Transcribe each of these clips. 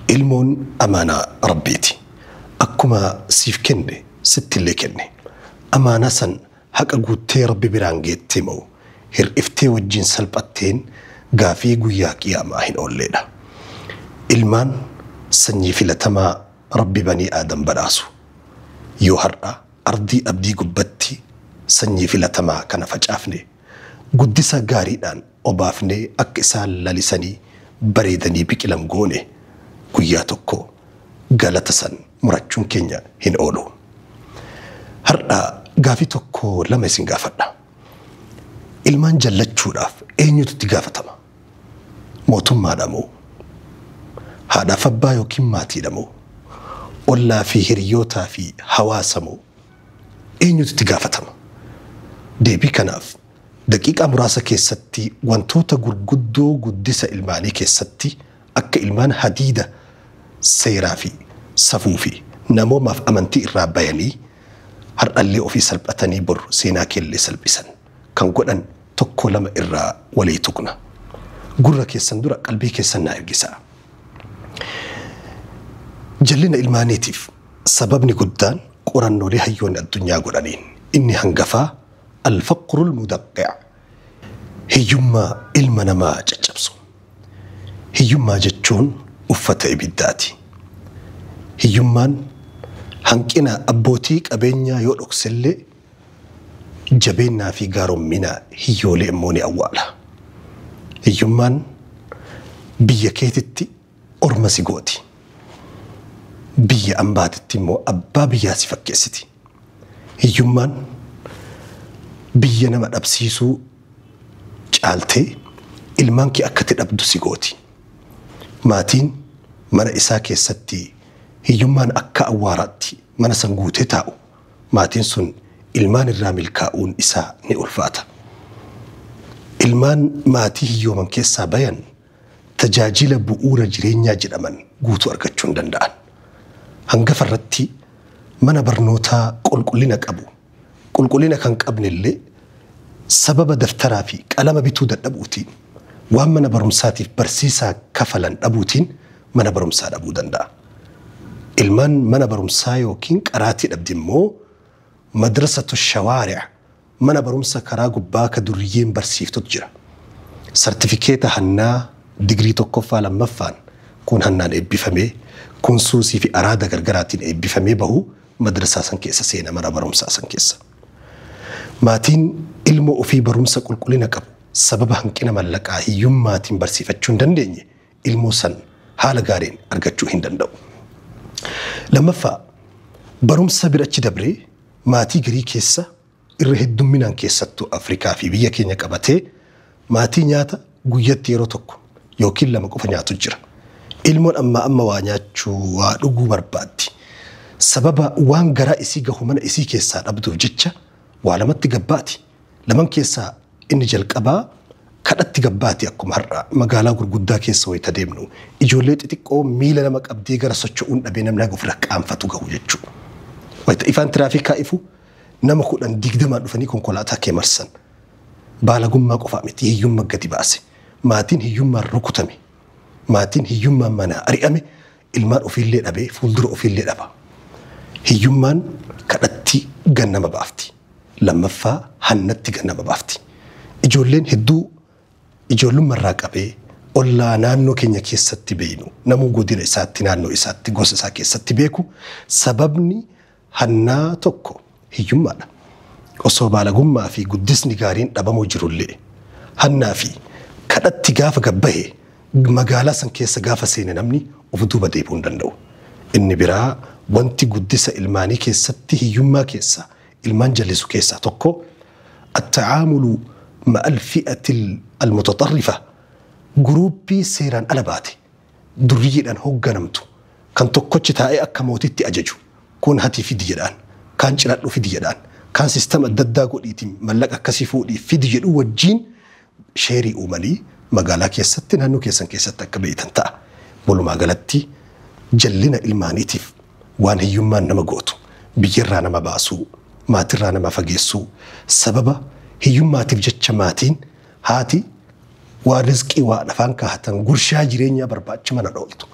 Ilmoon amaanaa Rabbiiti. Akkuma siif kenne sittillee kenne. Amaanaa san haqa guuttee Rabbi biraan geettee moo hir'iftee wajjiin salphatteen gaafii guyyaa qiyaamaa hin oolleedha. Ilmaan sanyii filatamaa Rabbi banii Aadam badhaasu. Yoo har'a ardii abdii gubbatti sanyii filatamaa kana facaafne, Guddisa gaariidhaan obaafnee akka isaan lalisanii bareedanii biqilan goone. Guyyaa tokko galata san murachuun keenya hin oolu. Har'a gaafii tokko lama isin gaafadha. Ilmaan jallachuudhaaf eenyutu itti gaafatama? Mootummaadha moo? Haadhaaf abbaa ykn maatiidha moo? Ollaa fi hiriyyootaa fi hawaasa moo? eenyutu itti gaafatama? Deebii kanaaf daqiiqaa muraasa keessatti wantoota gurguddoo guddisa ilmaanii keessatti akka ilmaan hadiida seeraa fi safuu fi namoomaaf amantii irraa bayanii har'allee ofii salphatanii bor seenaa keellee salphisan kan godhan tokko lama irraa walii tuqna. Gurra keessan dura qalbii keessan naa ergisaa. Jallina ilmaaniitiif sababni guddaan Qorannoolee hayyoonni addunyaa godhaniin inni hangafaa Al-Faqrul Mudaqqi'a, Hiyyummaa ilma namaa caccabsu. Hiyyummaa jechuun uffata ibiddaati. Hiyyummaan hanqina abbootii qabeenyaa yoo dhoksellee, jabeennaa fi gaarommina hiyyoolee immoo ni awwaala. Hiyyummaan biyya keetitti orma si gooti. Biyya ambaatitti immoo abbaa biyyaa si fakkeessiti. Hiyyummaan biyya nama dhabsiisuu caaltee ilmaan kee akkati dhabdu si gooti. Maatiin mana isaa keessatti hiyyummaan akka awwaaraatti mana san guutee taa'u maatiin sun ilmaan irraa milkaa'uun isaa ni ulfaata. Ilmaan maatii hiyyooman keessaa bayan tajaajila bu'uura jireenyaa jedhaman guutuu argachuu hin danda'an. Hangafa irratti mana barnootaa qulqullina qabu, qulqullina kan qabne illee sababa daftaraa fi qalama bituu dadhabuutiin, waan mana barumsaatiif barsiisaa kafalan dhabuutiin mana barumsaa dhabuu danda'a. Ilmaan mana barumsaa ykn qaraatii dhabde immoo Madrasatu Shawaari'a, Mana barumsa karaa gubbaa ka durriyyeen barsiiftutu jira. Sartifikeeta hannaa digirii tokkoffaa lammaffaan kuun hannaan eebbifamee, kuun suusii fi araada gargaraatiin eebbifamee bahu madrasaa san keessa seena, mana barumsaa san keessa. Maatiin ilmoo ofii barumsa qulqullina qabu sababa hanqina mallaqaa, hiyyummaatiin barsiifachuu hin dandeenye ilmoo san haala gaariin argachuu hin danda'u. Lammaffaa, barumsa bira achi dabree maatii garii keessa irra heddumminaan keessattuu Afrikaa fi biyya keenya qabatee maatii nyaata guyyatti yeroo tokko ykn lama qofa nyaatu jira. Ilmoon ammaa amma waa nyaachuu, waa dhuguu barbaaddi. Sababa waan garaa isii gahu mana isii keessaa dhabduuf jecha waa lamatti gabbaati. Laman keessaa inni jalqabaa kadhatti gabbaati akkuma har'aa magaalaa gurguddaa keessa wayita deemnu ijoollee xixiqqoo miila nama qabdee gara socho'uun dhabee namni haga ofirra qaanfatu gahu jechuudha. Wayita ifaan tiraafikaa ifu nama kudhan digdamaan dhufanii konkolaataa kee marsan. Baalagummaa qofaa miti hiyyumma gadi baase. Maatiin hiyyummaan rukutame. Maatiin hiyyummaan manaa ari'ame Ilmaan ofiillee dhabee fuuldura ofiillee dhaba. Hiyyummaan kadhatti gad nama baafti. Lammaffaa hannatti gad nama baafti. Ijoolleen hedduu ijoollummarraa qabee ollaa naannoo keenya keessatti beeynu namuu godina isaatti naannoo isaatti gosa isaa keessatti beeku sababni Hannaa tokko hiyyummaadha. Osoo baalagummaa fi guddisni gaariin dhabamuu jirullee. Hannaa fi kadhatti gaafa gad bahe magaalaa san keessa gaafa seene namni of duuba deebi'uu hin danda'u. Inni biraa wanti guddisa ilmaanii keessatti hiyyummaa keessaa ilmaan jallisu keessaa tokko Attacaamulu ma'al fi'atil almutaxarrifa Guruuppii seeraan ala baate durriyyiidhaan hogganamtu, kan tokkochi taa'ee akka mootiitti ajaju, kuun hatii fidi jedhaan, kaan ciradhu fidi jedhaan, kaan system adda addaa godhiitii mallaqa akkasii fuudhii fidi jedhuu wajjiin sheerii uumanii magaalaa keessatti naannoo keessan keessatti akka beeytan ta'a. Walumaa galatti jallina ilmaaniitiif waan hiyyummaan nama gootu, biyyarraa nama baasuu, maatirraa nama fageessuu, sababa hiyyummaatiif jecha maatiin Haati waan rizqii waa lafaan kaahatan gurshaa jireenyaa barbaacha mana dhooltu.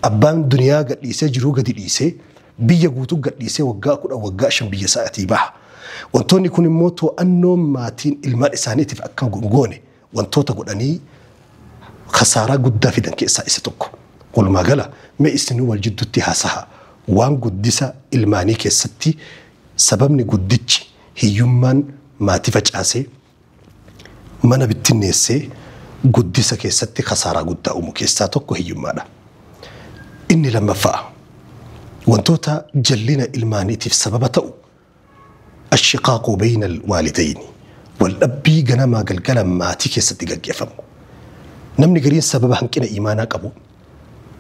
Abbaan duniyaa gadhiisee jiruu gadi dhiisee biyya guutuu gadhiisee waggaa kudhan waggaa shan biyya isaatii baha. Wantoonni kun immoo too'annoon maatiin ilmaan isaaniitiif akka hin goone wantoota godhanii kasaaraa guddaa fidan keessaa isa tokko. Walumaa gala mee isinuu wal jidduutti haasahaa. Waan guddisa ilmaanii keessatti sababni guddichi hiyyummaan maatii facaasee, Mana bittinneessee guddisa keessatti kasaaraa guddaa uumu keessaa tokko hiyyummaadha. Inni lammaffaa wantoota jallina ilmaaniitiif sababa ta'u ashiqaaqu beeynal waalidayni waldhabbii ganamaa galgala maatii keessatti gaggeefamu. Namni gariin sababa hanqina iimaanaa qabuun,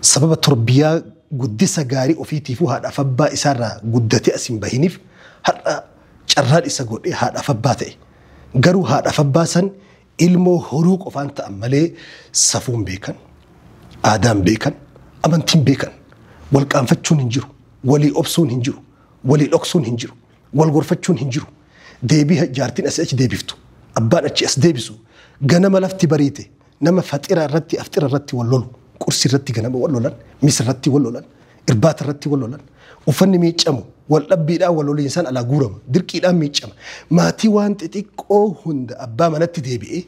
sababa torbiyaa guddisa gaarii ofiitiifuu haadhaaf abbaa isaarraa guddatee as hin bahiniif har'a Carraan isa godhe haadhaaf abbaa ta'e. Garuu haadhaaf abbaa san ilmoo horuu qofaan ta'an malee safuun beekan, aadaan beekan, amantiin beekan. Wal qaanfachuun hin jiru, walii obsuun hin jiru, walii dhoksuun hin jiru, wal gorfachuun hin jiru. Deebii jaartiin asii achi deebiftu, abbaan achii as deebisu, ganama lafti bariite nama faxira irratti afxira irratti wal lolu, qursi irratti ganama wal lolan, misirratti wal lolan, Irbaata irratti wal lolan. Uffanni miiccamu wal dhabbiidhaan wal loliinsaan alaa guurama. Dirqiidhaan miiccama. Maatii waan xixiqqoo hunda abbaa manatti deebi'ee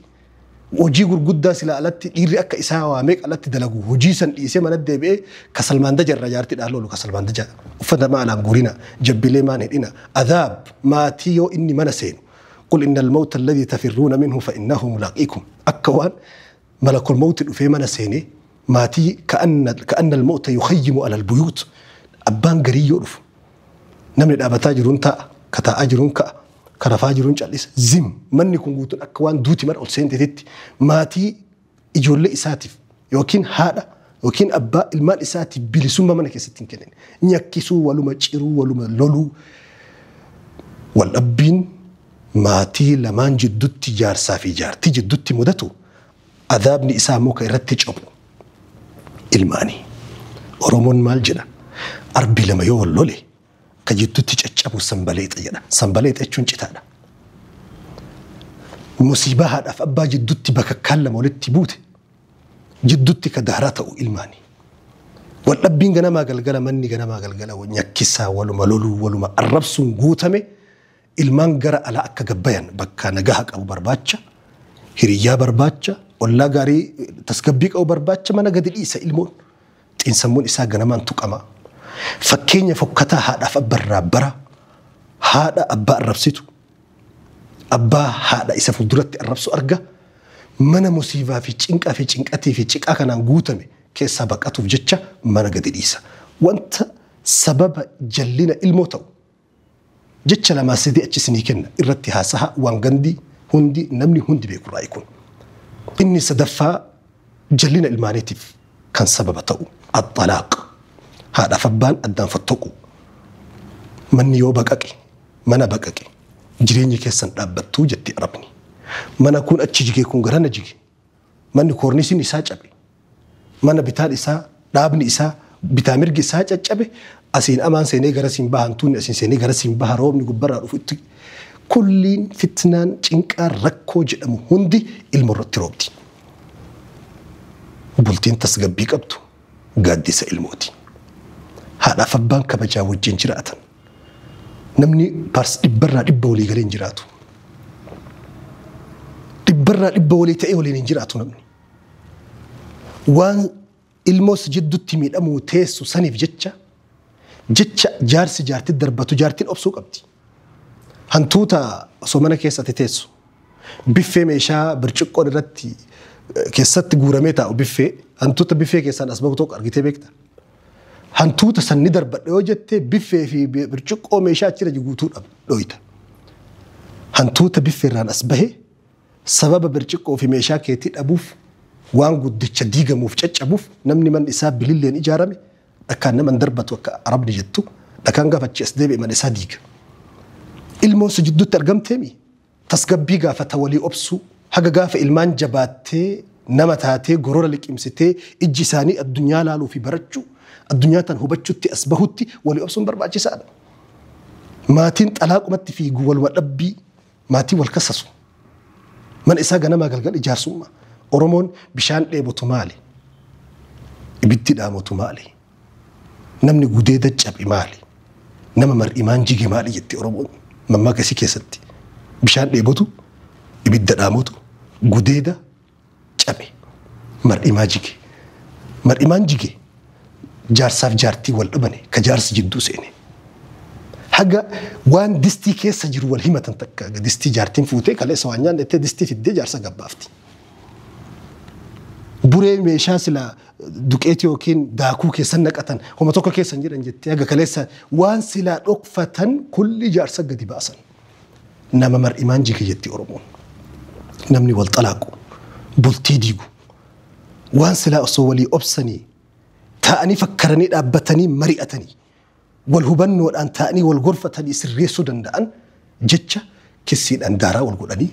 hojii gurguddaa silaa alatti dhiirri akka isaa waa meeqa alatti dalagu hojii san dhiisee manatti deebi'ee kasalmaandaja irraa jaartii dhaal loolu kasalmaandaja uffata maa alaan guurina jabbilee maan hidhina adaab maatii yoo inni mana seenu qul innal mawta alladhi tafirruuna minhu fa innahu mulaaqiikum akka waan Malakul mawti dhufee mana seenee maatii ka'annal mawta yukhayyimu alal buyuut abbaan garii yoo dhufu namni dhaabataa jiruun taa'a ka taa'aa jiruun ka'a ka rafaa jiruun callisa zim manni kun guutuun akka waan duuti mana ol seentetitti maatii ijoollee isaatiif yookiin haadha ykn abbaa ilmaan isaatiif bilisummaa mana keessatti hin kennine. Nyakkisuu, waluma ciruu, waluma loluu, waldhabbiin maatii lamaan jiddutti jaarsaa fi jaartii jiddutti mudatu adaabni isaa immoo kan irratti cophu ilmaanii. Oromoon maal jedha? Arbi lama yoo wal lole ka jiddutti caccabu sanbaleexa jedha. Sanbaleexa jechuun citaadha. Musiibaa haadhaaf abbaa jiddutti bakakkaan lama walitti buute jiddutti ka dahra ta'u ilmaani. Waldhabbiin ganamaa galgala manni ganamaa galgala nyakkisaan waluma loluun waluma arrabsuun guutame ilmaan gara alaa akka gabbayan bakka nagaha qabu barbaacha, hiriyyaa barbaacha, ollaa gaarii tasgabbii qabu barbaacha mana gadi dhiisa ilmoon. Xiinsammuun isaa ganamaan tuqama. Fakkeenya fokkataa haadhaaf abba irraa bara. Haadha abbaa arrabsitu, Abbaa haadha isa fulduratti arrabsu arga, mana musiibaa fi cinqaa fi cinqatii fi ciqaa kanaan guutame keessaa baqatuuf jecha mana gadi dhiisa. Wanta sababa jallina ilmoo ta'u jecha lamaa sadii achi isinii kenna, irratti haasaha waan gandi hundi, namni hundi beekurraayi kun. Inni sadaffaa jallina ilmaaniitiif kan sababa ta'u axalaaq haadhaaf abbaan addaan fottoquu manni yoo baqaqe mana baqaqe jireenyi keessan dhaabbattuu jetti arabni mana kun achi jige kun garana jige manni koorniisiin isaa cabe mana bitaan isaa dhaabni isaa bitaa mirgi isaa caccabe asiin amaan seenee gara siin baha hantuunni asiin seenee gara siin baha roobni gubbarraa dhufu itti kulliin fitnaan cinqaan rakkoo jedhamu hundi ilmo irratti roobdi. Bultiin tasgabbii qabdu gaaddisa ilmooti. Haadhaaf abbaan kabajaa wajjin jiraatan. Namni paars dhibbarraa dhibba walii galee hin jiraatu. Dhibbarraa dhibba walii ta'ee waliin hin jiraatu namni. Waan Ilmoo si jiddutti miidhamuu teessu saniif jecha jecha jaarsi jaartitti darbatu jaartiin obsuu qabdi. Hantuuta osoo mana keessa ati teessu biffee meeshaa birciqqoon irratti keessatti guuramee taa'u biffee hantuuta biffee keessaan as bahu tokko argitee beekta. Hantuuta san ni darbadha yoo jette biffee fi birciqqoo meeshaa achirra guutuu dhooyta. Hantuuta biffeerraan as bahe Sababa birciqqoo fi meeshaa keetii dhabuuf, waan guddicha diigamuuf, caccabuuf, namni manni isaa bililleen ijaarame dhakaan nama hin darbatu akka Arabni jettu, dhakaan gaafa achii as deebi'e mana isaa diiga. Ilmoon si jidduutti argamteemi? Tasgabbii gaafata walii obsuu. Haga gaafa ilmaan jabaattee, nama taatee, gorora liqimsitee, ijji isaanii addunyaa laaluu fi barachuu, addunyaa tana hubachuutti as bahutti walii obsuun barbaachisaadha. Maatiin xalaaqumatti fiigu waluma dhabbii, Maatiin wal kassasu. Mana isaa ganamaa galgal ijaarsumma. Oromoon bishaan dheebotu maali? Ibiddi dhaamotu maali? Namni gudeeda cabe maali? Nama mar'imaan jige maali jetti Oromoon mammaakasii keessatti. Bishaan dheebotu, ibidda dhaamotu, gudeeda cabe. Mar'imaa jige. Mar'imaan jige jaarsaaf jaartii wal dhabane ka jaarsi jidduu seene. Haga waan distii keessa jiru wal himatan takka distii jaartiin fuutee kaleessa waan nyaanne jettee distii fiddee jaarsa gabbaafti. Buree meeshaa silaa duqeetii yookiin daakuu keessan naqatan homa tokko keessa hin jedhan jettee haga kaleessa waan silaa dhokfatan kulli jaarsa gadi baasan. Nama mar'imaan jige jetti Oromoon. Namni wal xalaaqu, bultii diigu, waan silaa osoo walii obsanii, taa'anii fakkaranii dhaabbatanii mari'atanii, wal hubannoodhaan taa'anii wal gorfatanii sirreessuu danda'an jecha kissiidhaan daaraa wal godhanii,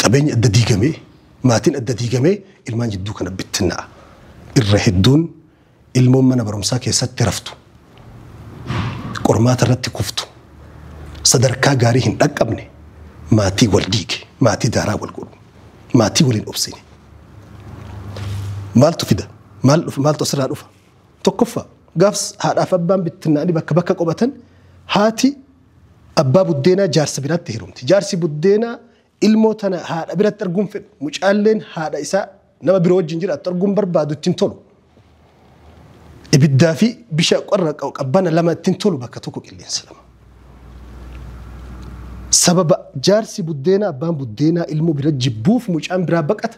qabeenyi adda diigamee, maatiin adda diigamee ilmaan jidduu kana bittinna'a. Irra hedduun Ilmoon mana barumsaa keessatti raftu, qormaata irratti kuftu, sadarkaa gaarii hin dhaqqabne maatii wal diige, maatii daaraa wal godhu, maatii waliin obsine. Maaltu fida? Maal dhufa? Maaltu asirraa dhufa? Tokkoffaa gaafs haadhaaf abbaan bittinnaa'anii bakka bakka qubatan haati abbaa buddeenaa jaarsa biraatti heerumti. Jaarsi buddeenaa Ilmoo tana haadha biratti arguu hin fedhu. Mucaalleen haadha isaa nama biroo wajjin jiraattu arguu hin barbaadu, itti hin tolu. Ibiddaa fi bisha qorra qabbana lama itti hin tolu bakka tokko qilleensa lama. Sababa jaarsi buddeenaa abbaan buddeenaa ilmoo bira jibbuuf mucaan biraa baqata.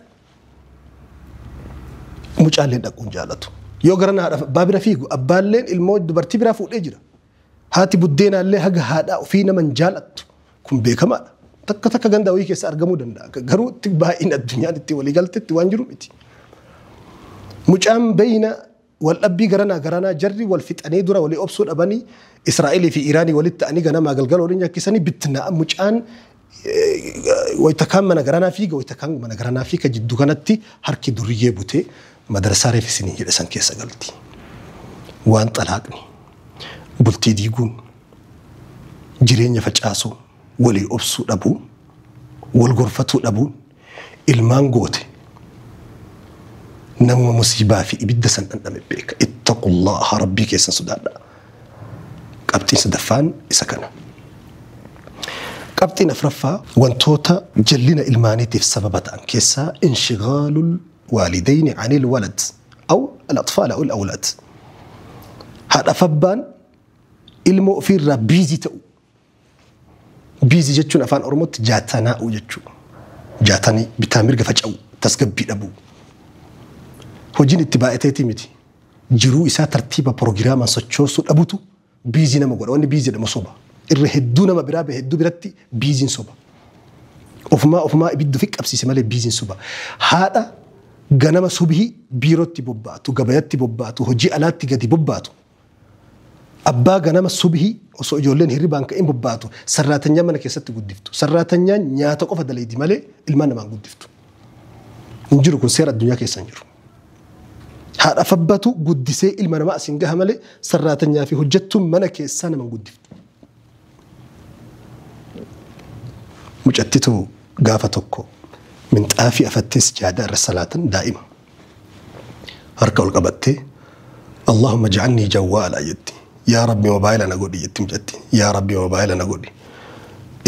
Mucaalleen dhaquun jaalatu. Yoo gara haadha abbaa bira fiigu abbaalleen ilmoo dubartii biraa fuudhee jira. Haati buddeenaallee haga haadhaa ofii nama hin jaalattu. Kun beekamaadha. Takka takka ganda wayii keessa argamuu danda'a. Garuu itti baay'ina addunyaan itti walii galtetti waan jiru miti. Mucaan beeyna waldhabbii garanaa garanaa jarri wal fixanii dura walii obsuu dhabanii Israa'elii fi Iiraanii walitti ta'anii ganamaa galgala waliin nyakkisanii bittinaa'a. Mucaan Wayta kaan mana garanaa fiiga wayta kaan mana garanaa fiiga jiddu kanatti harki duriyyee butee madrasaa reef isiniin jedhe san keessa galti. Waan xalaaqni, bultii diiguun, jireenya facaasuu, walii obsuu dhabuun, wal gorfatuu dhabuun, Ilmaan goote namuma musiibaa fi ibidda san dhandhame beeka. Ittaqullaaha rabbii keessan sodaadha. Qabxiin sadaffaan isa kana. Qabxiin afraffaa wantoota jallina ilmaaniitiif sababa ta'an keessaa inshigaalul waalidayni anil walad aw al atfaal aw al awlaad. Haadhaaf abbaan ilmoo ofiirraa biizii ta'u. Biizii jechuun afaan Oromootti jaatanaa'uu jechuudha. Jaatanii bitaa mirga faca'uu, tasgabbii dhabuu. Hojiin itti baay'ateetii miti. Jiruu isaa tartiiba pirogiraamaan sochoosuu dhabutu biizii nama godha. Wanni biizii jedhamu soba. Irra hedduu nama biraa bahe hedduu biratti biiziin soba. Ofumaa ofumaa ibidda ofi qabsiise malee biiziin soba. Haadha ganama subhii biirootti bobbaatu, gabayatti bobbaatu, hojii alaatti gadi bobbaatu Abbaa ganama subhii osoo ijoolleen hirribaan ka'in bobbaatu sarraatanyaa mana keessatti guddiftu. Sarraatanyaan nyaata qofa dalaydi malee ilmaan namaan guddiftu. Hin jiru kun seera addunyaa keessa hin jiru. Haadhaaf abbatu guddisee ilma namaa asiin gaha malee sarraatanyaa fi hojjettuun mana keessaa naman guddiftu. Mucattitu gaafa tokko minxaafii afattee sijaadaa irra salaatan daa'ima. Harka ol qabattee Allahumma ja'alnii jawwaala jetti. Yaa Rabbi mobaayila na godhi jetti mucatti. Yaa Rabbi mobaayila na godhi.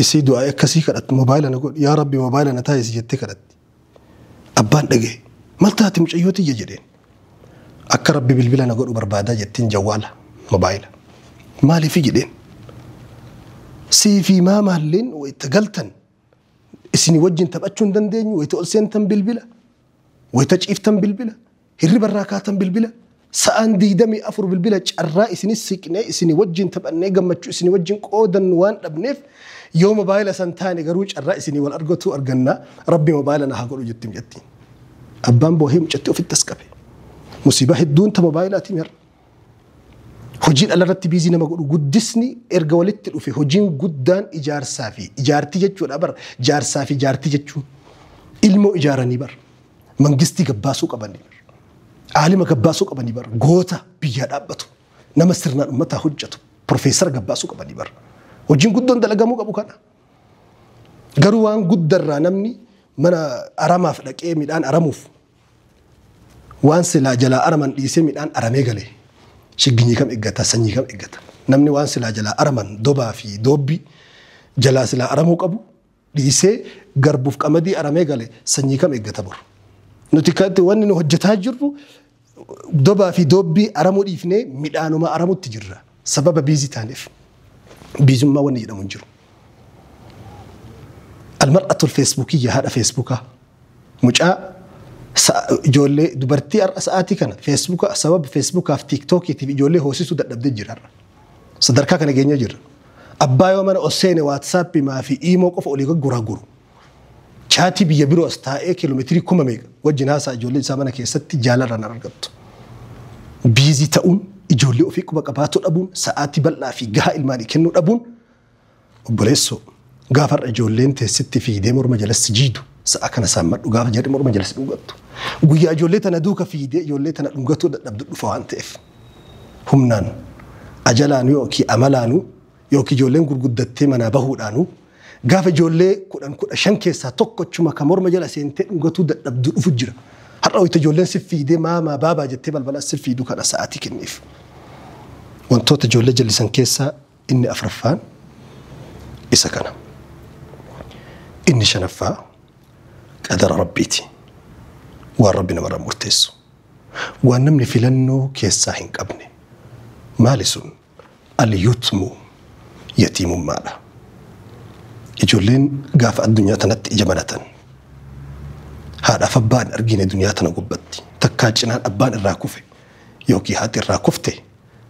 Isii du'aa akkasii kadhattu mobaayila na godhi. Yaa Rabbi mobaayila na taasisi jettee kadhatti. Abbaan dhagahe. Mal taate mucayyoo tiyya jedheen. Akka rabbi bilbila na godhu barbaada jettiin jawwaala, mobaayila. Maaliifi jedheen. Sii fi maamaalleen wayita galtan isinii wajjin taphachuu hin dandeenyu wayita ol seentan bilbila wayita ciiftan bilbila Hirriba irraa kaatan bilbila, sa'aan 24 bilbila carraa isinis siqnee isinii wajjin taphannee gammachuu isinii wajjin qoodannu waan dhabneef yoo mobaayila san taane garuu carraa isinii wal argatuu arganna rabbi mobaayila na haa godhu jettim jettiin. Abbaan boohee mucatti ofitti as qabe. Musiibaa hedduun ta mobaayilaatiin har'a. Hojiin alarratti biizii nama godhu guddisni erga walitti dhufe hojiin guddaan ijaarsaa fi ijaartii jechuudha bar jaarsaa fi jaartii jechuun ilmoo ijaaranii bar. mangistii gabbaasuu qabanii bar. Aalima gabbaasuu qabanii bar. Goota biyyaa dhaabbatu. Nama sirnaan ummataa hojjetu. Profeesara gabbaasuu qabanii bar. Hojiin guddoon dalagamuu qabu kana. Garuu waan guddarraa namni mana aramaaf dhaqee midhaan aramuuf waan silaa jalaa araman dhiisee midhaan aramee galee shigginyii kam eeggata sanyii kam eeggata namni waan silaa jalaa araman dobaa fi doobbii jalaa silaa aramuu qabu dhiisee garbuuf qamadii aramee gale sanyii kam eeggata bor. Nuti kanti wanni nu hojjetaa jirru dobaa fi doobbii aramuu dhiifnee midhaanuma aramutti jirra. Sababa biizii taaneef. Biizummaa wanni jedhamu hin jiru. Almar'atul feesbuukiyya haadha feesbuukaa. Mucaa sa- ijoollee dubartii har'a sa'aatii kana feesbuuka sababa feesbuukaaf tiiktookiitiif ijoollee hoosisuu dadhabdee jira har'a. Sadarkaa kana geenyee jirra. Abbaa yoo mana os seene WhatsApp maa fi iimoo qofa olii gagguraa guru. Chaatii biyya biroo as taa'ee kiiloomeetirii kuma meeqa wajjin haasaa ijoollee isaa mana keessatti jaalarraan argattu. Biizii ta'uun ijoollee ofii quba qabaatuu dhabuun sa'aatii bal'aa fi gahaa ilmaanii kennuu dhabuun Obboleessoo! Gaafa har'a ijoolleen tee sitti fiiydee morma jala si jiidu, sa'a kana saammadhu gaafa jarri morma jala si dhungattu. Guyyaa ijoollee tana duuka fiiydee ijoollee tana dhungatuu dadhabdu dhufa waan ta'eef. Humnaan, ajalaanuu yookiin amalaanuu yookiin ijoolleen gurguddattee manaa bahuudhaanuu gaafa ijoollee kudhan kudha shan keessaa tokko achuma ka morma jala seentee dhungatuu dadhabdu dhufu jira. Har'a wayita ijoolleen si fiiydee maamaa baabaa jettee balbala as si fiiydu kana sa'aatii kenniif. Wantoota ijoollee jallisan keessaa Inni afraffaan isa kana. Inni shanaffaa qadara Rabbiiti. Waan Rabbi namarra murteessu. Waan namni filannoo keessaa hin qabne. Maali sun? Al-yutmu yatiimummaadha. Ijoolleen gaafa addunyaa tanatti ija banatan haadhaaf abbaa hin argine duniyaa tana gubbatti takkaa cinaan abbaan irraa kufe yookiin haati irraa kufte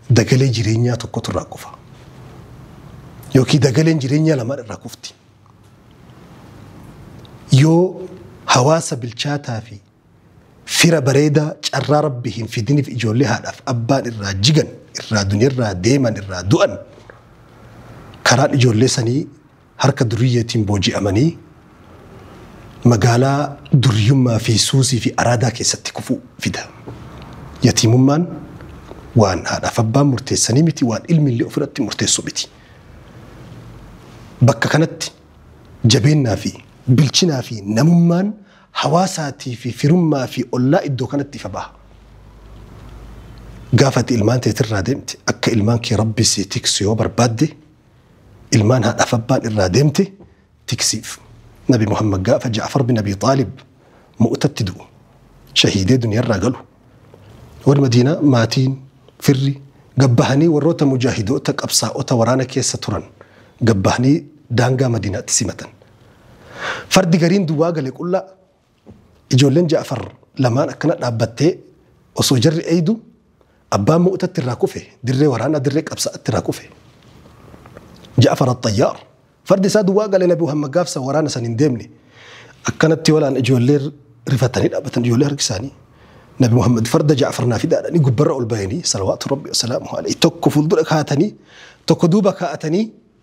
Dagalee jireenyaa tokkotu irraa kufa. Yookiin dagaleen jireenyaa lamaan irraa kufti. Yoo hawaasa bilchaataa fi fira bareedaa carraa rabbi hin fidiniif ijoollee haadhaaf abbaan irraa jigan, irraa duniyarraa deeman, irraa du'an karaan ijoollee sanii harka duriyyeetiin booji'amanii magaalaa duriyummaa fi suusii fi araadaa keessatti kufuu fida. Yatiimummaan waan haadhaaf abbaan murteessanii miti, waan ilmi illee ofirratti murteessu miti. Bakka kanatti jabeennaa fi bilchinaa fi namummaan hawaasaatii fi firummaa fi ollaa iddoo kanatti ifa baha. Gaafa ati ilmaan teetirraa deemte akka ilmaan kee rabbi si tiksu yoo barbaadde ilmaan haadhaaf abbaan irraa deemte tiksiif. Nabi Muhammad gaafa Ja'far bin Abi Xaalib mu'tatti du'u shahiidee duniyarraa galu. Warri Madiinaa maatiin firri gabbahanii warroota mujaahidoota qabsaa'ota waraana keessa turan gabbahanii daangaa Madiinaatti simatan. Fardi gariin duwwaa gale qullaa Ijoolleen Ja'far lamaan akkana dhaabbattee osoo jarri eeydu abbaan Mu'tatti irraa kufe dirree waraanaa dirree qabsa'atti irraa kufe. Ja'far Axxayyaar fardi isaa duwwaa galee Nabi Muhammad gaafsa waraana san hin deemne akkanatti walaan ijoollee rifatanii dhaabbatan ijoollee harki isaanii. Nabi Muhammad farda Ja'far naa fidaadhanii gubbarra ol bayanii salawaatu rabbi wasalaamuhu alayhi tokko fuuldura kaa'atanii tokko duuba kaa'atanii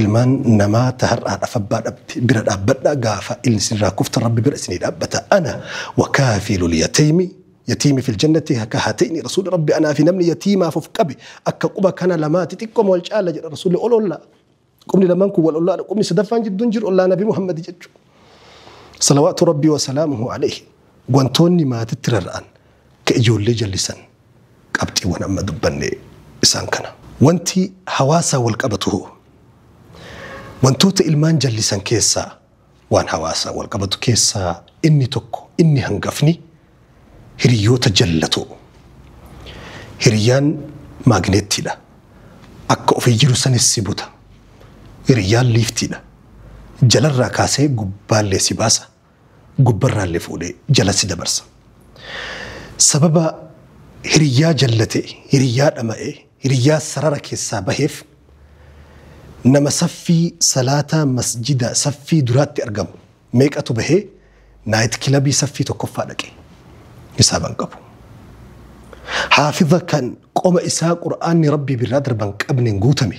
Ilmaan namaa ta har'aadhaf abbaa dhabde bira dhaabbadhaa gaafa ilni isin irraa kuftan rabbi bira isinii dhaabbata ana wa kaafiilul yataymi yatiimi fil jannati ka hatayni rasuuli rabbi anaa fi namni yatiimaaf of qabe akka quba kana lamaati xiqqoma wal caalla jedha rasuuli ol ollaa qubni lamaan kun wal ollaadha qubni sadaffaan jidduu hin jiru ollaa nabi muhammadi jechu salawaatu rabbi wa salaamuhu alayhi wantoonni maatitti rarra'an ka ijoollee jallisan Qabxiiwwan amma dubbanne isaan kana. Wanti hawaasaan walqabatuhoo? Wantoota ilmaan jallisan keessaa waan hawaasaan walqabatu keessaa inni tokko, inni hangafni hiriyyoota jallatoo. Hiriyyaan maagneettiidha. Akka ofii jiru sanis si buta. Hiriyyaan liiftiidha. Jalarraa kaasee gubbaallee si baasa. gubbarraalle fuudhee jala si dabarsa. Sababa hiriyyaa jallate, hiriyyaa dhama'e, hiriyyaa sarara keessaa baheef nama saffii salaataa masjida saffii duraatti argamu meeqatu bahee naayit kilabii saffii tokkoffaa dhaqe? Hisaaba hin qabu. Haafiza kan qoma isaa Qur'aanni Rabbii birraa darban qabneen guutame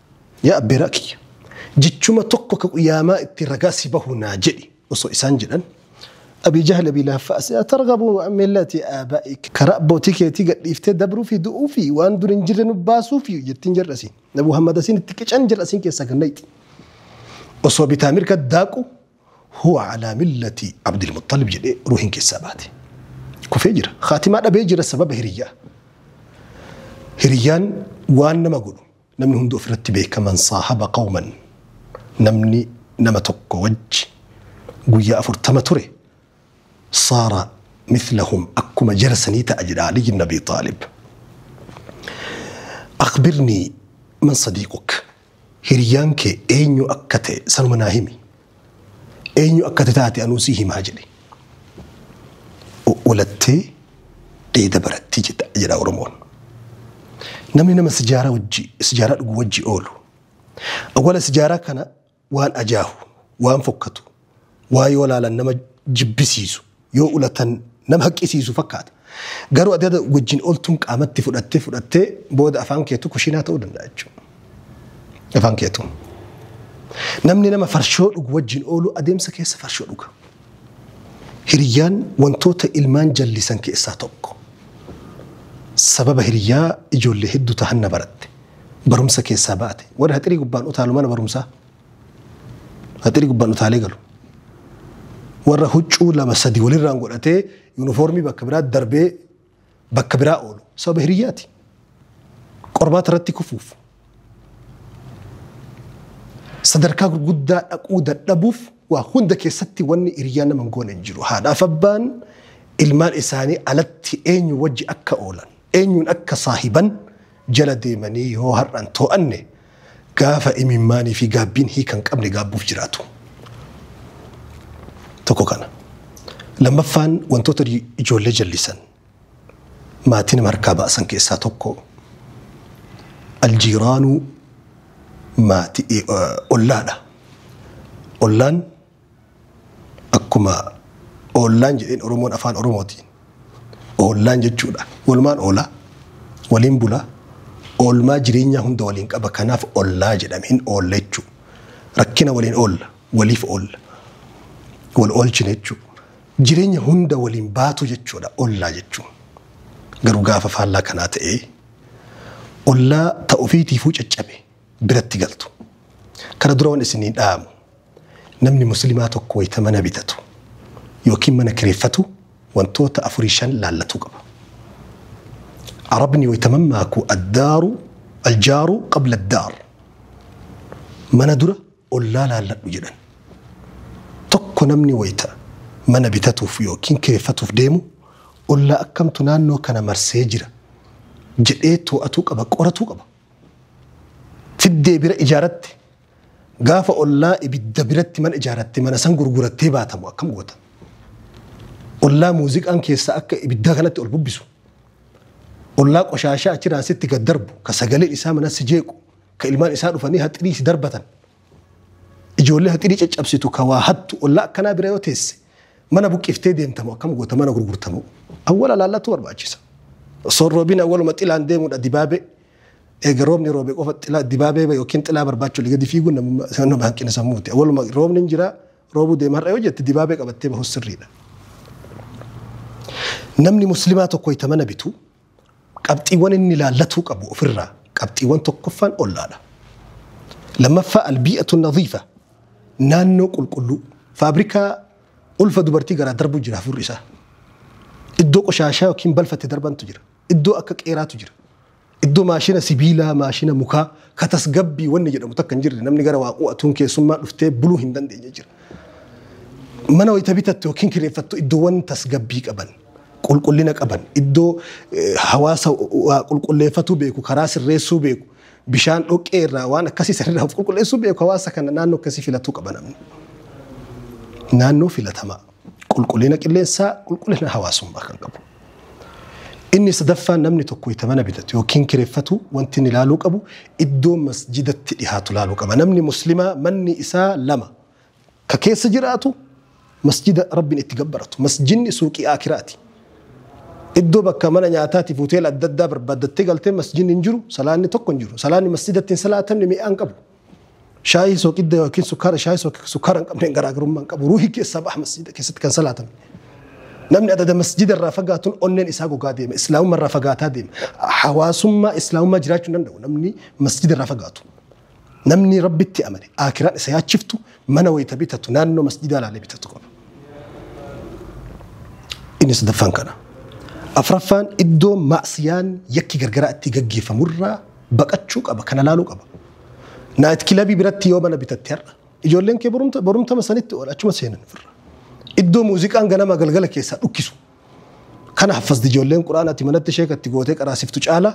Yaa abbeeraa kiyya! Jechuma tokko ka Qiyaamaa ittiin ragaa si bahu naa jedhi osoo isaan jedhan, Abii Jahl Abii Lahab fa'a si atargabu an millati aabaa'ik, Karaa abbootii keetii gad dhiiftee dabruu fi du'uu fi waan dur hin jirre nu baasuu fi jettiin jarri asiin. Nabi Muhammad asiin itti qican jarri asiin keessaa gad nayxi. Osoo bitaa mirga daaqu Huwa calaa millati Abdil Muxxalib jedhee ruuhiin keessaa baate. Kufee jira. Khaatimaa dhabee jira sababa hiriyyaa. Hiriyyaan waan nama godhu. Namni hundi ofirratti beeka man saahaba qawman namni nama tokko wajji guyyaa afurtama ture saara mithlahum akkuma jara sanii ta'a jedha Aliyyi ibn Abii Xaalib. Akhbirnii man sadiiquk hiriyyaan kee eenyu akka ta'e sanuma naa himi. Eenyu akka ati taate anuu sii himaa jedhe. Olattee dheeda baratti jedha Oromoon. Namni nama sijaaraa wajji sijaaraa dhugu wajji oolu. Awwala sijaaraa kana waan ajaahu, waan fokkatu, waa yoo laalan nama jibbisiisu yoo ulatan nama haqqisiisu fakkaata. Garuu ati ada wajjin oltuun qaamatti fudhattee fudhattee booda afaan keetu kushiinaa ta'uu danda'a jechuudha. Afaan keetu. Namni nama farshoo dhugu wajjin oolu adeemsa keessa farshoo dhuga. Hiriyyaan wantoota ilmaan jallisan keessaa tokko. Sababa hiriyyaa ijoollee hedduu tahan na baratte. Barumsa keessaa baate. Warri haxirii gubbaan utaalu mana barumsaa. Faxiri gubbaan utaalee galu. Warra huccuu lama sadi walirraan godhatee yuunifoormii bakka biraa darbee bakka biraa oolu. Sababa hiriyyaati. Qormaata irratti kufuuf. Sadarkaa gurguddaa dhaquu dadhabuuf waa hunda keessatti wanni hiriyyaa nama hin goone hin jiru. Haadhaaf abbaan ilmaan isaanii alatti eenyu wajji akka oolan, eenyuun akka saahiban jala deemanii yoo har'an too'anne Gaafa imimmaanii fi gaabbiin hiika hin qabne gaabbuuf jiraatu. Tokko kana. Lammaffaan wantoota ijoollee jallisan maatii nama harkaa baasan keessaa tokko aljiiraanuu maatii ollaadha. Ollaan Akkuma oollaan jedheen Oromoon Afaan Oromootiin oollaan jechuudha. Walumaan oola, waliin bula, oolmaa jireenyaa hunda waliin qaba. Kanaaf ollaa jedhame hin oolla jechuu. Rakkina waliin oolla, waliif oolla, wal oolchina jechuu. Jireenya hunda waliin baatu jechuudha ollaa jechuun. Garuu gaafa faallaa kanaa ta'ee ollaa ta ofiitiifuu caccabe biratti galtu. Kana dura wan isinii dhaamu namni muslimaa tokko wayta mana bitatu yookiin mana kireeffatu wantoota afurii shan laallatuu qaba. Arabni wayta mammaaku addaaru aljaaru qabla addaar mana dura ollaa laalladhu jedhan. Tokko namni wayta mana bitatuuf yookiin kireeffatuuf deemu ollaa akkamtu naannoo kana marsee jira jedhee too'atuu qaba qoratuu qaba. fiddee bira ijaaratte gaafa ollaa ibidda biratti mana ijaaratte mana san gurgurattee baatamu akkam goota? Ollaa muuziqaan keessaa akka ibiddaa kanatti ol bubbisu. Ollaa qoshaashaa achiraan sitti gad darbu ka sagaleen isaa mana si jeequ ka ilmaan isaa dhufanii haxirii si darbatan. Ijoollee haxirii caccabsitu ka waa hattu ollaa akkanaa bira yoo teesse Mana buqqiftee deemtamoo akkam goota mana gurgurtamoo? Awwala laallatu barbaachisa. Osoo hin roobin awwaluma xilaan deemuudha dibaabee. Eega roobni roobe qofa xilaa dibaabee yookiin xilaa barbaachuu gadi fiiguun namummaa nama hanqina sammuuti. Awwaluma roobni hin jira roobuu deema har'a yoo jette dibaabee qabattee bahus sirriidha. Namni muslimaa tokko wayita mana bitu Qabxiiwwan inni ilaallatuu qabu ofirraa qabxiiwwan tokkoffaan ol'aadha. Lammaffaa albii'atu nadhiifa naannoo qulqulluu faabrikaa ulfa dubartii garaa darbu jira hafuurri isaa. Iddoo qoshaashaa yookiin balfa itti darbantu jira. Iddoo akka qeeraatu jira. Iddoo maashina sibiilaa, maashina mukaa, ka tasgabbii wanni jedhamu takka hin jirre namni gara waa qu'atuun keessummaa dhuftee buluu hin dandeenye jira. Mana wayita bitattu yookiin kireeffattu iddoowwan tasgabbii qaban. qulqullina qaban iddoo hawaasa waa qulqulleeffatuu beeku karaa sirreessuu beeku bishaan dhoqqee irraa waan akkasii sanirraa of qulqulleessuu beeku hawaasa kana naannoo akkasii filatuu qaba namni. Naannoo filatamaa qulqullina qilleensaa qulqullina hawaasummaa kan qabu. Inni sadaffaan namni tokko itti mana bitatu yookiin kireeffatu wanti inni ilaaluu qabu iddoo masjidatti dhihaatu ilaaluu qaba. Namni muslimaa manni isaa lama. Ka keessa jiraatu masjida Rabbiin itti gabbaratu. Masjidni suuqii aakiraati. Iddoo bakka mana nyaataatiif hoteela adda addaa barbaaddattee galtee masjidni hin jiru, salaanni tokko hin jiru. Salaanni masjidatti hin salaatamne mi'aa hin qabu. Shaayii sooqidda yookiin sukkaara shaayii sooqidda sukkaara hin qabneen garaagarummaa hin qabu. Ruuhi keessaa baha masjida keessatti kan salaatamne. Namni adada masjida irraa fagaatuun onneen isaa gogaa deema. Islaamummaa irraa fagaataa deema. Hawaasummaa islaamummaa jiraachuu hin danda'u namni masjida irraa fagaatu. Namni Rabbitti amane, Aakhiraan isa yaachiftu, mana wayta bitatu naannoo masjidaa laalee bitatu qaba. Inni sadaffaan kana. Afraffaan iddoo maasiyaan yakki gargaraa itti gaggeeffamu irraa baqachuu qaba, kana laaluu qaba. Naayit kilabii biratti yoo mana bitatte har'a, ijoolleen kee borumta- borumtama sanitti oola, achuma seenan ofirra. Iddoo muuziqaan ganama galgala keessaa dhukkisu. Kana haffazdi ijoolleen quraanati manatti sheekatti gootee qaraasiftu caala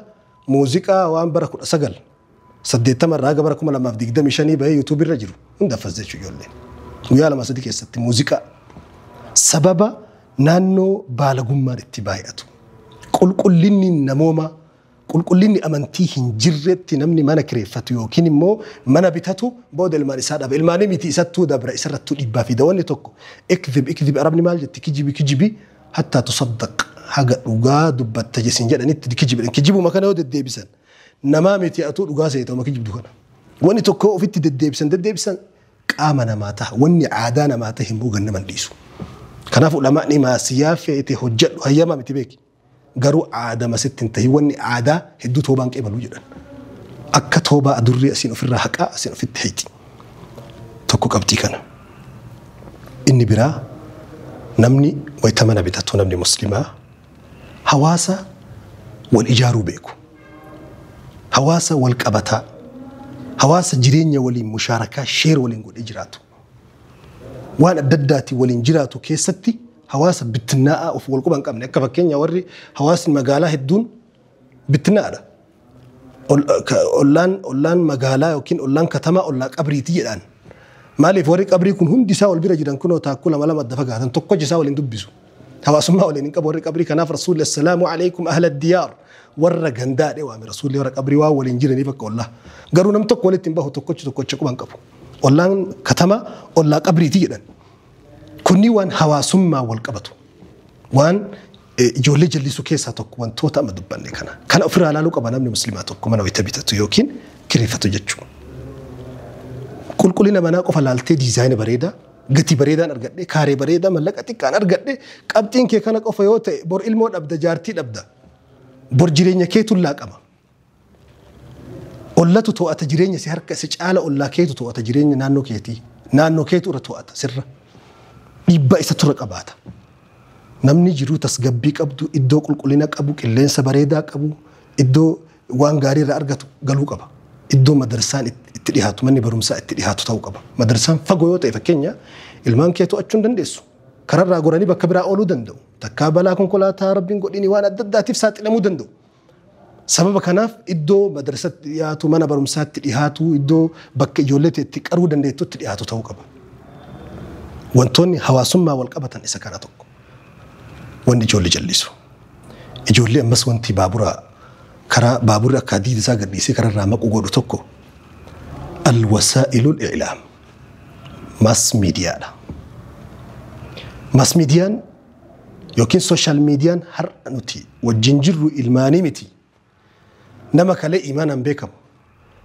muuziqaa waan bara kudha sagal 80 irraa haga bara 2025 bahee YouTube irra jiru hunda affas jechuu ijoollee. Guyyaa lama sadii keessatti muuziqaa sababa naannoo baalagummaan itti baay'atu. Qulqullinni namoomaa qulqullinni amantii hin jirretti namni mana kireeffatu yookiin immoo mana bitatu booda ilmaan isaa dhaba. Ilmaanii miti isattuu dabra isarrattuu dhibbaa fi dawanni tokko ikdhib ikdhib arabni maal jetti kijibi kijibi hattaa tusaddaq haga dhugaa dubbatta jesin jedhanitti kijibidhan kijibuma kana yoo deddeebisan Namaa miti atuu dhugaa seeta uma kijibdu kana. Wani tokkoo ofitti deddeebisan deddeebisan qaama namaa taha wanni aadaa namaa tahe immoo gannama hin dhiisu. Kanaaf ulamaa'ni maasiyaa feete hojjadhu hayyamaa miti beeki. Garuu aadama sitti hin tahin wanni aadaa hedduu toobaa hin qeebalu jedhan. Akka toobaa adurree asiin ofirraa haqaa asiin ofitti hixi. Tokko qabxii kana. Inni biraa namni wayita mana bitatu namni muslimaa Hawaasa wal ijaaruu beeku. Hawaasa wal qabataa. Hawaasa jireenya waliin mushaarakaa, share, waliin godhee jiraatu. Waan adda addaatiin waliin jiraatu keessatti hawaasa bittinnaa'aa of wal quba hin qabne akka fakkeenya warri hawaasni magaalaa hedduun bittinnaa'aadha. ollaan ollaan magaalaa yookiin ollaan katamaa ollaa qabriiti jedhaan. Maaliif warri qabrii kun hundi isaa wal bira jiran kunoo taakkuu lama lama adda fagaatan tokko isaa waliin dubbisu. Hawaasummaa waliin hin qabu warri qabrii kanaaf rasuulli assalaamu alaikum ahla diyaar warra gandaa dhee waame rasuulli warra qabrii waan waliin jiraniif akka ollaa. Garuu nam tokko walitti hin bahu tokkochi tokkocha quban qabu. Ollaan katamaa ollaa qabriiti jedhan. Kunni waan hawaasummaa wal qabatu. Waan Ijoollee jallisuu keessaa tokko wantoota amma dubbanne kana. Kana ofirraa ilaaluu qaba namni musliimaa tokko mana wayita bitatu yookiin kireeffatu jechuudha. Qulqullina manaa qofa laaltee diizaayina bareedaa gatii bareedaan argadhe kaaree bareedaa mallaqa xiqqaan argadhe qabxiin kee kana qofa yoo ta'e bor ilmoo dhabda jaartii dhabda bor jireenya keetu laaqama. Ollatu to'ata jireenya si harka si caala ollaa keetu to'ata jireenya naannoo keetii. Naannoo keetu irra to'ata sirra. Dhiibbaa isa tura qabaata. Namni jiruu tasgabbii qabdu iddoo qulqullina qabu qilleensa bareedaa qabu iddoo waan gaarii irraa argatu galuu qaba. Iddoo madarsaan itti dhihaatu manni barumsaa itti dhihaatu ta'uu qaba. Madarsaan fagoo yoo ta'e fakkeenya ilmaan kee to'achuu hin dandeessu. Kararraa goranii bakka biraa ooluu danda'u. Takkaa balaa konkolaataa rabbiin godhini waan adda addaatiif saaxilamuu danda'u. Sababa kanaaf iddoo madrasatti dhiyaatu, mana barumsaatti dhiyaatu, iddoo bakka ijoollee ta'e itti qaruu dandeettutti dhiyaatu ta'uu qaba. Wantoonni hawaasummaa wal qabatan isa kana tokko. Wanni ijoollee jallisu. Ijoollee ammas wanti baaburaa karaa baaburri akka hadiida isaa gadhiisee karaa irraa maqu godhu tokko alwasaa'ilul i'laam maas miidiyaadha. Maas miidiyaan Yookiin social median har'a nuti wajjin jirru ilmaanii miti. Nama kalee imaanaan beekamu,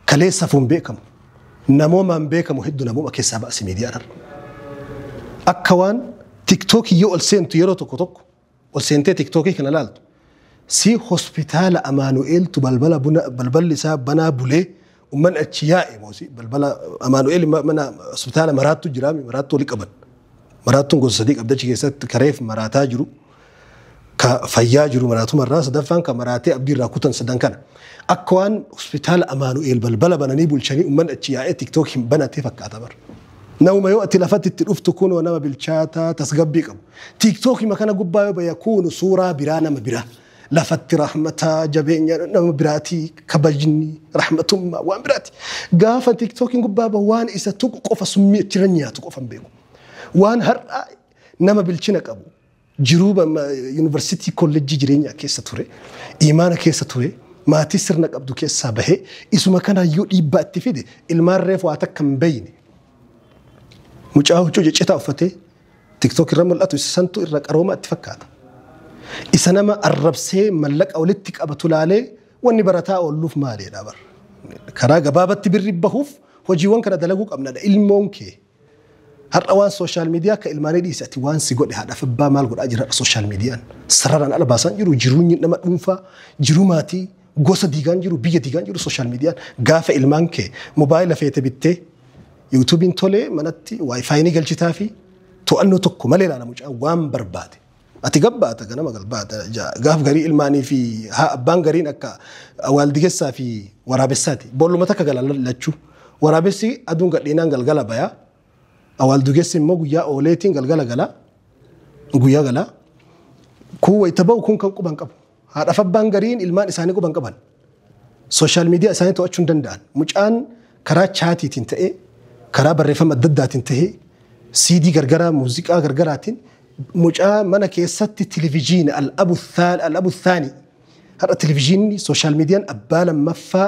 kalee safuun beekamu, namoomaan beekamu heddu namooma keessaa baasi miidiyaan har'a. Akka waan tiktookii yoo ol seentu yeroo tokko tokko ol seentee tiktookii kana laaltu si hospitaala Amaanu'eeltu balbala buna balballi isaa banaa bulee Ummanni achi yaa'e moosi balbala Amaanu'eel mana hospitaala maraattu jira maraattu wali qaban. Maraattuun gosa sadii qabdi achi keessatti kareef maraataa jiru. Ka fayyaa jiru maraatumarraa sadaffaan ka maraatee abdiirraa kutan sadan kana. Akka waan hospitaala Amaanu'eel balbala bananii bulchanii ummanni achi yaa'ee tiktook hin banatee fakkaata bara. Nauma yoo ati lafatti itti dhuftu kunoo nama bilchaataa tasgabbii qabu. Tiktookima kana gubbaa yoo baya kuunu suuraa biraa nama biraa. Lafatti rahmata, jabeenya nama biraati, kabajni, rahmatummaa waan biraati. Gaafa tiktookiin gubbaa bahu waan isa tuqu qofa summii achirra nyaatu qofa hin beeku. Waan har'a nama bilchina qabu jiruu ba- ma- yuunivarsiitii kollejjii jireenyaa keessa ture, imaana keessa ture, maatii sirna qabdu keessaa bahee isuma kanaayyuu dhiibbaa itti fide ilmaan reefu waa takka hin beeyne. Mucaa huccuu ciccitaa uffatee Tiktok irra mul'atu isa santu irra qarooma itti fakkaata. Isa nama arrabsee mallaqa walitti qabatu laalee wanni barataa oolluuf maaliidha bar. Karaa gabaabatti birri bahuuf hojiiwwan kana dalaguu qabnadha. Ilmoon kee har'a waan sooshaal miidiyaa akka ilmaanii dhiise ati waan si godhe haadhaaf abbaa maal godhaa jira har'a sooshaal miidiyaan. Sararaan ala baasaan jiru jiruunyi nama dhuunfaa jiruu maatii Gosa diigaan jiru, biyya diigaan jiru sooshaal miidiyaan gaafa ilmaan kee mobaayila feete bittee yuutuubiin tolee manatti waayifaayi ni galchitaa fi to'annoo tokko malee ilaala mucaa waan barbaade. Ati gabbaata ganama galbaata ja- gaaf garii ilmaanii fi haa abbaan gariin akka waaldigessaa fi waraabessaati. Boolluma takka gala lachuu. Waraabessi aduun gadhiinaan galgala bayaa. Awaaldugessi immoo guyyaa ooleetiin galgala galaa. Guyyaa galaa. Kun wayita ba'u kun kan quban qabu. Haadhaaf abbaan gariin ilmaan isaanii quba hin qaban. Sooshaal miidiyaa isaanii to'achuu hin danda'an. Mucaan karaa chaatiitiin ta'e, karaa barreeffama adda addaatiin ta'e, siidii gargaraa, muuziqaa gargaraatiin mucaa mana keessatti televijiina al-abu thaani har'a televijiinni sooshaal miidiyaan abbaa lammaffaa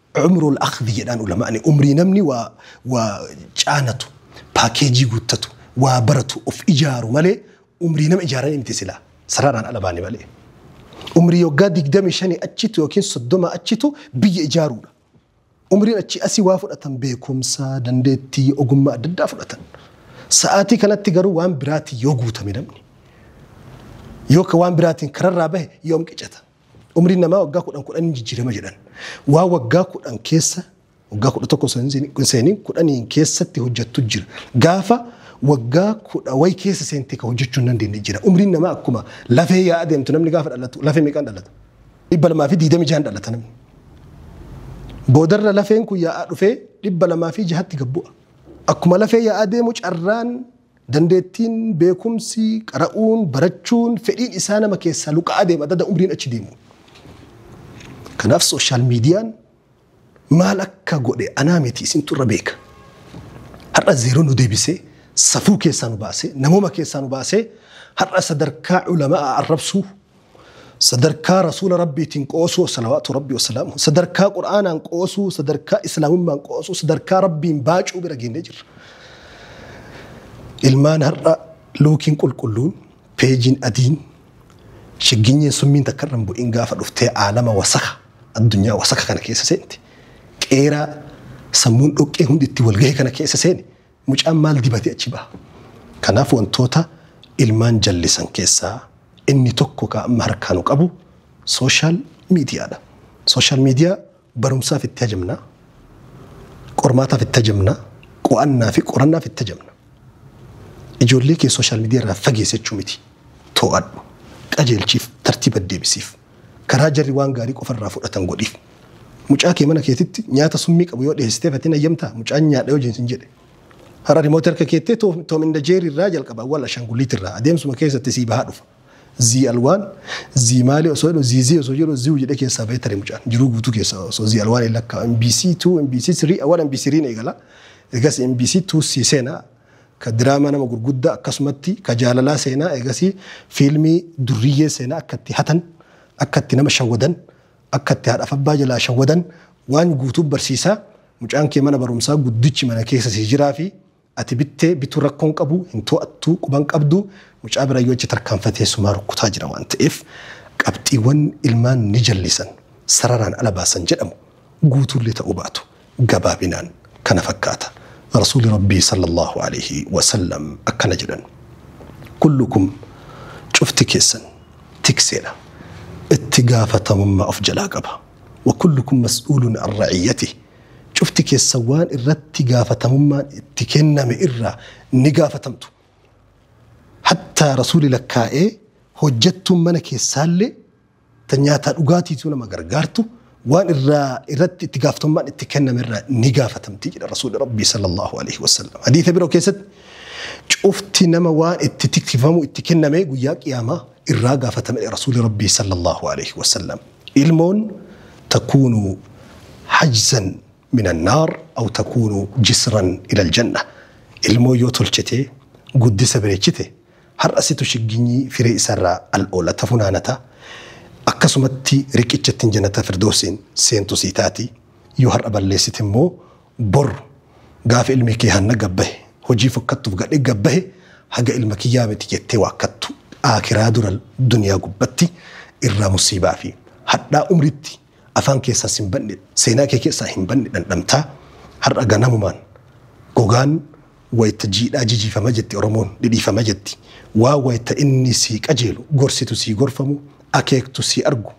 Umrul akhdhi jedhaan ulama'ni umrii namni waa waa caanatu paakeejii guuttatu waa baratu of ijaaru malee umrii nama ijaaranii miti silaa sararaan ala baane malee. Umrii waggaa 25 achitu yookiin 30 achitu biyya ijaaruudha. Umriin achii asii waa fudhatan beekumsa, dandeettii, ogummaa adda addaa fudhatan. Sa'aatii kanatti garuu waan biraatiin yoo guutame namni yookaan waan biraatiin kararraa bahe yoom qicata? Umriin namaa waggaa kudhan kudhan hin jijjiirama jedhan. Waan waggaa kudhan keessa waggaa kudha tokko seenin kudhaniin keessatti hojjettu jira. Gaafa waggaa kudha wayi keessa seentee kan hojjechuu hin dandeenye jira. Umriin namaa akkuma lafee yaa adeemtu namni gaafa dhalatu lafee meeqaan dhalata? Dhibba lamaa fi diidamii jahan dhalata namni. Boodarra lafeen kun yaa'aa dhufee dhibba lamaa fi jahatti gabbu'a. Akkuma lafee yaa'aa deemu carraan Dandeettiin, beekumsi, qara'uun, barachuun, fedhiin isaa nama keessaa luqa'aa deema adda adda umriin achi deemuun. Kanaaf sooshaal miidiyaan maal akka godhe anaa miti isintu irra beeka. Har'a zeeroo nu deebisee safuu keessaa nu baasee namooma keessaa nu baasee har'a sadarkaa ulama'a arrabsuu sadarkaa rasuula rabbiitiin qoosuu salawaatu rabbi wasalaamu sadarkaa qur'aanaan qoosuu sadarkaa islaamummaan qoosuu sadarkaa rabbiin baacuu bira geennee jirra ilmaan har'a luukiin qulqulluun peejiin adiin shigginyeen summiin takka irra hin bu'in gaafa dhuftee aalama wasaka addunyaa wasaka kana keessa seenti qeeraa sammuun dhoqqee hundi itti walgahee kana keessa seeni Mucaan maal dibatee achi baha? Kanaaf wantoota ilmaan jallisan keessaa inni tokko ka amma harkaa nu qabu social media dha. Social media barumsaaf itti hajamna, qormaataaf itti hajamna, qo'annaa fi qorannaaf itti hajamna. Ijoollee kee social media irraa fageessi jechuu miti. Too'adhu, qajeelchiif, tartiiba deebisiif. Karaa jarri waan gaarii qofa irraa fudhatan godhiif. Mucaa kee mana keetitti nyaata summii qabu yoo dhiheessiteef ati hin hayyamtaa? Mucaan nyaadha yoo siin jedhe. Har'a remote harka keettee Tom and Jerry irraa jalqaba wal ashanguliit irraa adeemsuma keessatti sii bahaa dhufa. Zii alwaan, zii maali osoo jedhu zii zii osoo jedhu ziu jedhee keessaa bahee tare mucaan jiruu guutuu keessa osoo zii alwaan hin lakkaa'u MBC 2, MBC 3, awwal MBC 3 eegala. Egas MBC 2 sii seena. ka diraamaa nama gurguddaa akkasumatti ka jaalalaa seenaa eegasii fiilmii durriyyee seenaa akka itti hatan akka itti nama shawwadan akka itti haadhaaf abbaa jalaa shawwadan waan guutuu barsiisaa mucaan kee mana barumsaa guddichi mana keessa sii jiraa fi ati bittee bituu rakkoon qabu hin to'attuu quban qabdu mucaa bira yoo achi tarkaanfatee sumaa rukkutaa jira waan ta'eef qabxiiwwan ilmaan ni jallisan sararaan ala baasan jedhamu guutuullee ta'uu baatu gabaabinaan kana fakkaata. Rasuulli Rabbii sallallaahu aleeyhi wasallam akkana jedhan, Kullukum, cufti keessan, tikseedha, itti gaafatamummaa of jalaa qaba. Wa kullukum mas'uulun an ra'iyyatih, cufti keessan waan irratti gaafatamummaan itti kenname irraa ni gaafatamtu. Hattaa Rasuulli lakkaa'ee hojjattuun mana keessaallee, ta nyaataa dhugaatiitu nama gargaartu waan irraa irratti itti gaaftammaan itti kenname irraa ni gaafatamti jedha rasuulli rabbii sallallahu alaihi wasallam hadiisa biroo keessatti cufti nama waan itti tikfamu itti kenname guyyaa qiyaamaa irraa gaafatame jedha rasuulli rabbii sallallahu alaihi wasallam ilmoon takuunu hajzan min annaar aw takuunu jisran ila aljanna ilmoo yoo tolchitee guddisa bareechite Har'a situ shigginyii firee isarraa al'oolata, funaanata. Akkasumatti riqicha ittiin Jannatal Firdoowsiin seentu sii taati. Yoo har'a balleessite immoo bor gaafa ilmi kee hanna gad bahe, hojii fokkattuuf gadhe gad bahe haga ilma kiyyaa miti jettee waakkattu, aakiraa dura duniyaa gubbatti irraa musiibaa fi hadhaa umriitti Afaan keessaas hin badne, seenaa kee keessaa hin badne dhandhamtaa, har'a ganamumaan gogaan wayita jiidhaa jijiifama jetti Oromoon, dhidhiifama jetti. Waa wayita inni sii qajeelu, gorsitu sii gorfamu, akeektu sii argu,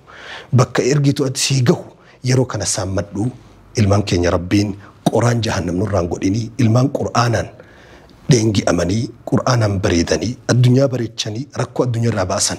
bakka ergitu ati sii gahu yeroo kana saammadhu. Ilmaan keenya Rabbiin qoraan jahannam nurraan godhinii, ilmaan Qur'aanaan dheengi'amanii, Qur'aanaan bareedanii, addunyaa bareechanii rakkoo addunyaa irraa baasan